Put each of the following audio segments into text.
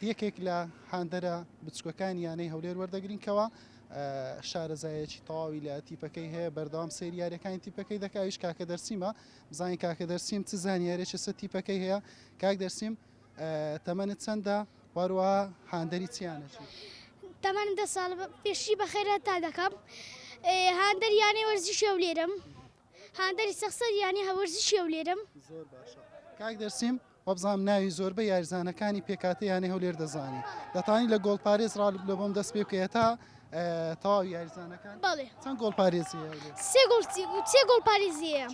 یەکێک لە هاندەرە بچووکەکانی یانەی هەولێر وەردەگرین کەوا شارەزایەکی تەواوی لە تیپەکەی هەیە بەردەوام سێری یاریەکانی تیپەکەی دەکاویش کاکە دەرسیمە بزانین کاکە دەرسیم چ زانیارێکی سە تیپەکەی هەیە کاک دەرسیم تەمەنت چەندە وەروە هاندەری چیانەتی تەمەن دە ساڵ پێشی بەخێرە تا دەکەم هاندەریانەی وەرزی شێولێرم هاندەری سەخسەر یانە هەوەرزشیە و لێرەم. زۆر باشە کاک دەرسیم وەبزانم ناوی زۆربە یاریزانەکانی پێکاتە یانەی هەولێر دەزانی دەتانی لە گۆڵ پارێز ڕالب لە بۆم دەست پێ بکەیە تا تەواو یاریزانەکان بەڵێ چەند گۆڵ پارێزی سێ گۆڵ سێ گۆڵ پارێزیە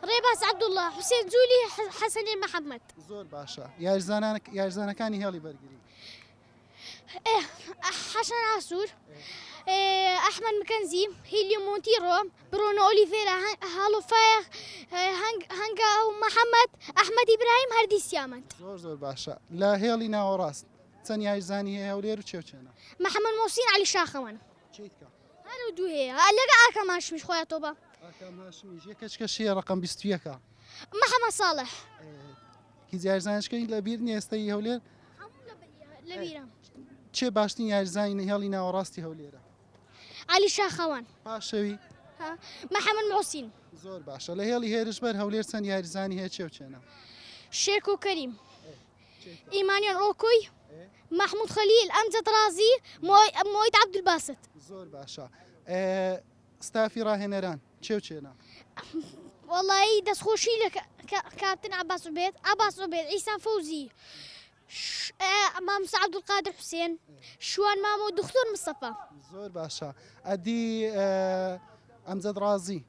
ڕێباز عەبدوڵڵا حوسێن جولی حەسەنێ محەممەد زۆر باشە یاریزانان یاریزانەکانی هێڵی بەرگری حەسەن ئاسوور، ئەحمەد مکەنزی، هیلیۆ مۆنتیڕۆ، برۆنۆ ئۆلیڤێرا، هاڵۆ فایەخ، هەنگا و محەممەد، ئەحمەدی برایم هەردی سیامەند. زۆر زۆر باشە لە هێڵی ناوەڕاست چەند یاریزانی هەیە هەولێر و چێ و چێنە؟ محەممەد مۆسین عەلی شاخەوان. چیت کە؟ هەر و دوو هەیە لەگە ئاکام هاشمیش خۆیان تۆپە. ئاکام هاشمیش یەکەچکەشیە ڕقم بیست و یەکە. محەممەد ساڵح. هیچ یاریزانشکەی لە بیر نیە ئێستای هەولێر چێ باشترین یاریزانانی هێڵی ناوەڕاستی هەولێرە علی شاخەوان پاشەوی محەممەد موسین زۆر باشە لە هێڵی هێرش بەر هەولێر چەند یاریزانی هەیە چێ و چێنە شێرک و کەریم ئیمانیان ئۆکوی مححمود خەلیل ئەمجد رازی مۆید عبدباست زۆر باشە ستافی ڕاهێنەران چێو چێنە. وەڵایی دەست خۆشی لە کاپتن عەباس عوبێد، عەباس عوبێد، عیسا فەوزی، مامۆستا عەبدولقادر حوسێن، شوان مامە و دوختور مستەفا. زۆر باشە ئەدی ئەمجەد ڕازی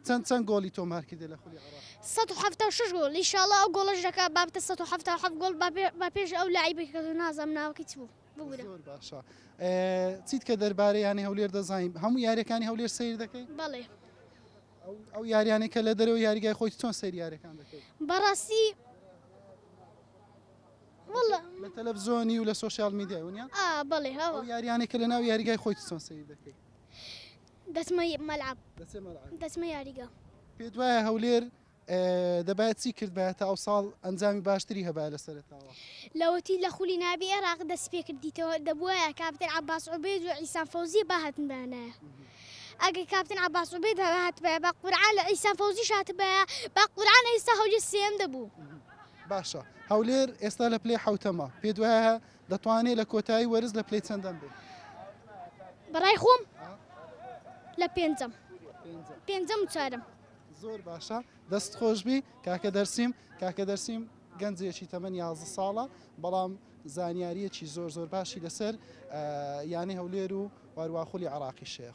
چەند چەند گۆڵی تۆمار کردی لە خولی عێراق؟ 176 گۆڵ ان شاء اللە ئەو گۆڵەش دەکا با بتە 177 گۆڵ با پێش ئەو لەعیبەی کە نازانم ناوەکەی چ بوو. زۆر باشە چیت کە دەربارەی یانی هەولێر دەزانین هەموو یاریەکانی هەولێر سیر دەکەی بەڵێ ئەو یاریانەی کە لە دەرەوە یاریگای خۆی چۆن سریارەکان دەکەیت بەڕاستی لە تەلەڤزۆنی و لە سوۆسیال میدیای ونیا بەڵێ یاریانەی کە لە ناو یاریگای خۆی چۆن سیر دەکەی دەسمە مەلعب دەسمە یاریگە پێ دوایە هەولێر دەبایە چی کردبایە تا ئەوساڵ ئەنجامی باشتری هەبایە لە سەرەتاوە؟ لاوەتی لە خولی نابی ئێراق دەستی پێ کردیتەوە دەبوایە کاپتن عەباس عوبێد و عیسام فەوزی بهاتنبایەنایە ئەگەر کاپتن عەباس عوبێد هاتبایە با قورعان لە عیسام فەوزیش هاتبایە با قورعان ئێستا هەولێر سێیەم دەبوو. باشە هەولێر ئێستا لە پلەی حەوتەمە پێت وایە دەتوانێت لە کۆتایی وەرز لە پلەی چەندەم بێت؟ بەڕای خۆم لە پێنجەم پێنجەم و چوارەم. زۆر باشە دەست خۆشبی کاکە دەرسیم کاکە دەرسیم گەنجێکی تەمەنی یازە ساڵە بەڵام زانیاریەکی زۆر زۆر باشی لەسەر یانەی هەولێر و وارواخلی عراقی شەیە